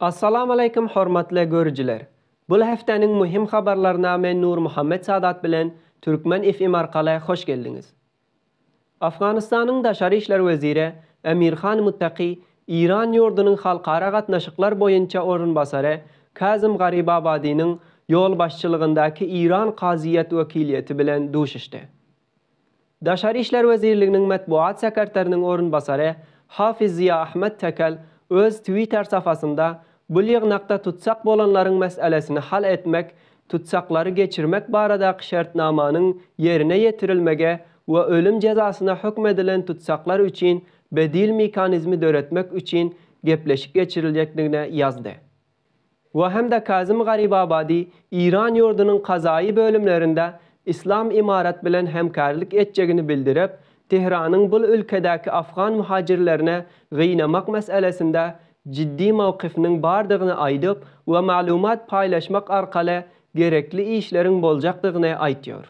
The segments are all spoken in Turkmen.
Assalamaleykum hormatly görüjiler! Bul hefteniň muhim habarlaryna men Nurmuhammet Sadat bilen Türkmen FM arkaly hoş geldiňiz. Afganystanyň daşary işler weziri Emirhan Muttaki Iran ýurdunyň halkara gatnaşyklar boýunça orunbasary Kazym Garibabadynyň ýolbaşçylygyndaky Iran kazyýet wekiliýeti bilen duşuşdy. Daşary işler wezirliginiň metbugat sekerteriniň orunbasary Hafiz Ziýaahmet Tekel öz Twitter sapasynda bul ýygnakda tutsak bolanlaryň meselesini hal etmek, tutsaklary geçirmek baradaky şertnamanyň ýerine ýetirilmegi we ölüm jezasyna hökm edilen tutsaklar üçin bedil mekanizmi döretmek üçin gepleşik geçiriljekdigine ýazdy. we hem-de Kazym Garibabadi Iran ýurdunyň kazaýy bölümlerinde Yslam Imarat bilen hemkärlik etjegini bildirip, Tehranyň bul ülkedäki afgan muhajirlerini gynamak meselesinde jiddi mowkyfynyň bardygyny aýdyp we maglumat paýlaşmak arkaly gerekli işleriň boljakdygyny aýtýar.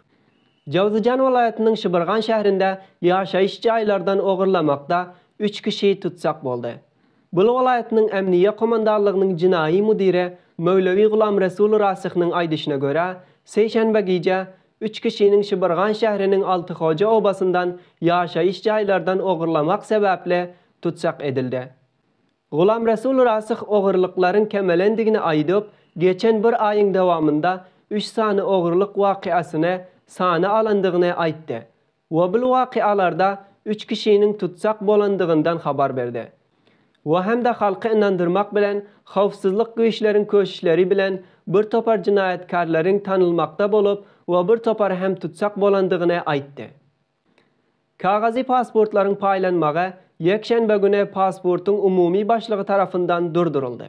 Jowzjan welaýatynyň Şybyrgan şährinde ýaşaýyş jaýlardan ogurlamakda üç kişi tutsak boldy. Bolu welaýatynyň Ämniýe komandanlygynyň jenaýy müdiri Möwlewi Gulamresul Rasyhynyň aýdyşyna görä, sişenbe gije üç kişiniň Şybyrgan şäheriniň Altyhoja obasyndan ýaşaýyş jaýlardan ogurlamak sebäpli tussag edildi. Gulamresul Rasyh ogurlyklaryň kemelendigini aýdyp, geçen bir aýyň dowamynda üç sany ogurlyk wakyasyny sana alandygyny aýtdy. Wobl wakyalarda üç kişiniň tutsag bolandygyndan habar berdi we hem-de halky ynandyrmak bilen howpsuzlyk güýçleriň köşüşleri bilen bir topar jynaýatkarlaryň tanylmakda bolup we bir topary hem tutsag bolandygyny aýtdy. Kagazy pasportlaryň paýlanmagy ýekşenbe güni pasportyň umumy başlygy tarapyndan durduryldy.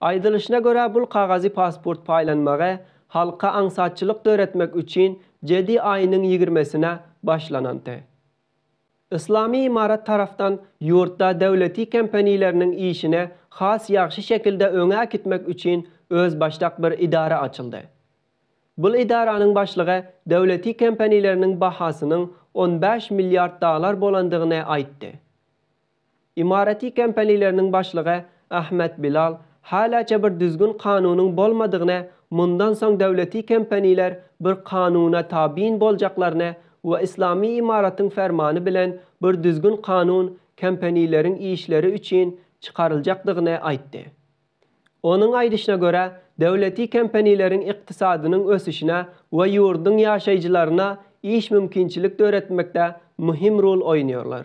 Aýdylyşyna görä bul kagazy pasport paýlanmagy halka aňsatçylyk döretmek üçin jedi aýynyň ýigirmesine başlananty. Yslamy ymarat tarafdan ýurtda döwleti kempanileriniň işini has ýagşy şekilde öňe äkitmek üçin özbaşdak bir idara açyldy. Bul idaranyň başlygy döwleti kempanileriniň bahasynyň on bäş milliard dalar bolandygyny aýtdy. Imarati kompaniýleriniň başlygy Ahmet Bilal halaça bir düzgün kanunyň bolmadygyny mundan soň döwleti kompaniýler bir kanuna tabyn boljaklaryny we islami imaratyň fermany bilen bir düzgün kanun kompaniýleriň işleri üçin çykaryljakdygyny aýtdy. Onuň aýdyşyna görä döwleti kompaniýleriň ykdysadynyň ösüşine we ýurduň ýaşaýjylaryna iş mümkinçilik döretmekde muhim rol oýnýarlar.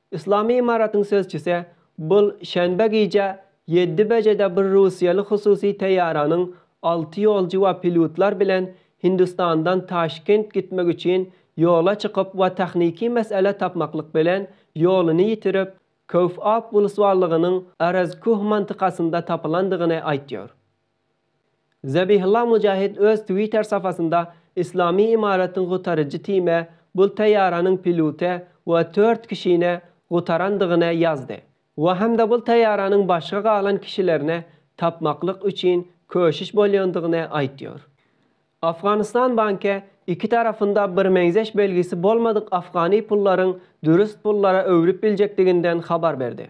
Yslamy Ymaratyň sözçüsi bul şenbe gije ýedi bejede bir russiýaly hususy teýýaranyň alty ýolçy we pilýutlar bilen Hindistandan Taşkent gitmek üçin ýola çykyp we tahniki mesele tapmaklyk bilen ýoluny ýitirip, Köwfap wlswallygynyň Arazkuh mantykasynda tapylandygyny aýtýar. Zabihullah Mujahid öz Twitter sapasynda Yslamy Ymaratyn gutaryjy time bul taýýaranyň piluty we tört kişini gutarandygyny ýazdy we hem-de bul taýýaranyň başga galan kişilerini tapmaklyk üçin köşüş bolýandygyny aýtýar. Afganystan banky iki tarapynda birmeňzeş belgisi bolmadyk afgany pullaryň dürs pullara öwrüp biljekdiginden habar berdi.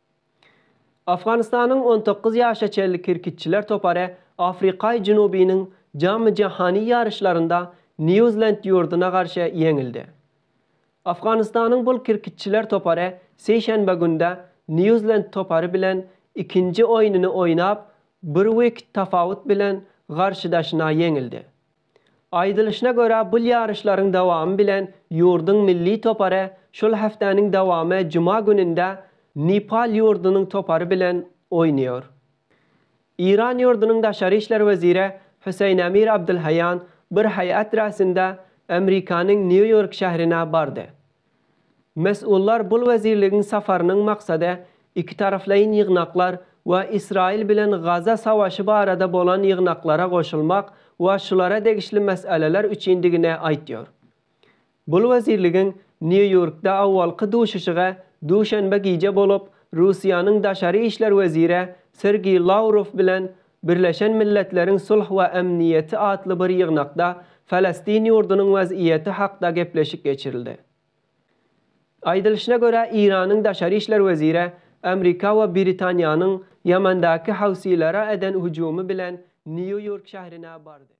Afganystanyň on dokuz ýaşa çenli kirkitçiler topary Afrikaý Junubynyň jamy-jahany ýaryşlarynda Nýu-Zland ýurduna garşy ýeňildi. Afganystanyň bul kirkitçiler topary seýşenbe günde Nýu-Zland topary bilen ikinji oýnuny oýnap, bir wikt tapawut bilen garşydaşyna ýeňildi. Aýdylyşyna görä, bul ýaryşlaryň dowamy bilen ýurduň milli topary şul hepdäniň dowamy juma gününde Nepal ýurdunyň topary bilen oýnaýar. Eýran ýurdunyň daşary işler weziri Hüseýin Emir Abdulhaýýan bir heýat räsinde Amerikanyň Nýu-Ýork şährine bardy Mesullar bul wezirligiň safarynyň maksady ikitaraplaýyn ýygnaklar we Ysraýyl bilen Gaza savaşy barada bolan ýygnaklara goşulmak we şulara degişli meseleler üçindigini aýtýar. Bul wezirligiň Nýu-Ýorkda awalky duşuşygy duşenbe gije bolup, Russiýanyň daşary işler weziri Sergeý Lawrow bilen Birleşen Milletleriň Sulh we Emniýeti atly bir ýygnakda Falestin ýurdunyň wezýiýeti hakda gepleşik geçirildi. Aýdylyşyna görä, Eýranyň daşary işler weziri Amrika we Britaniýanyň Ýemendaky housilere eden hüjümi bilen Nýu-Ýork şährine bardy.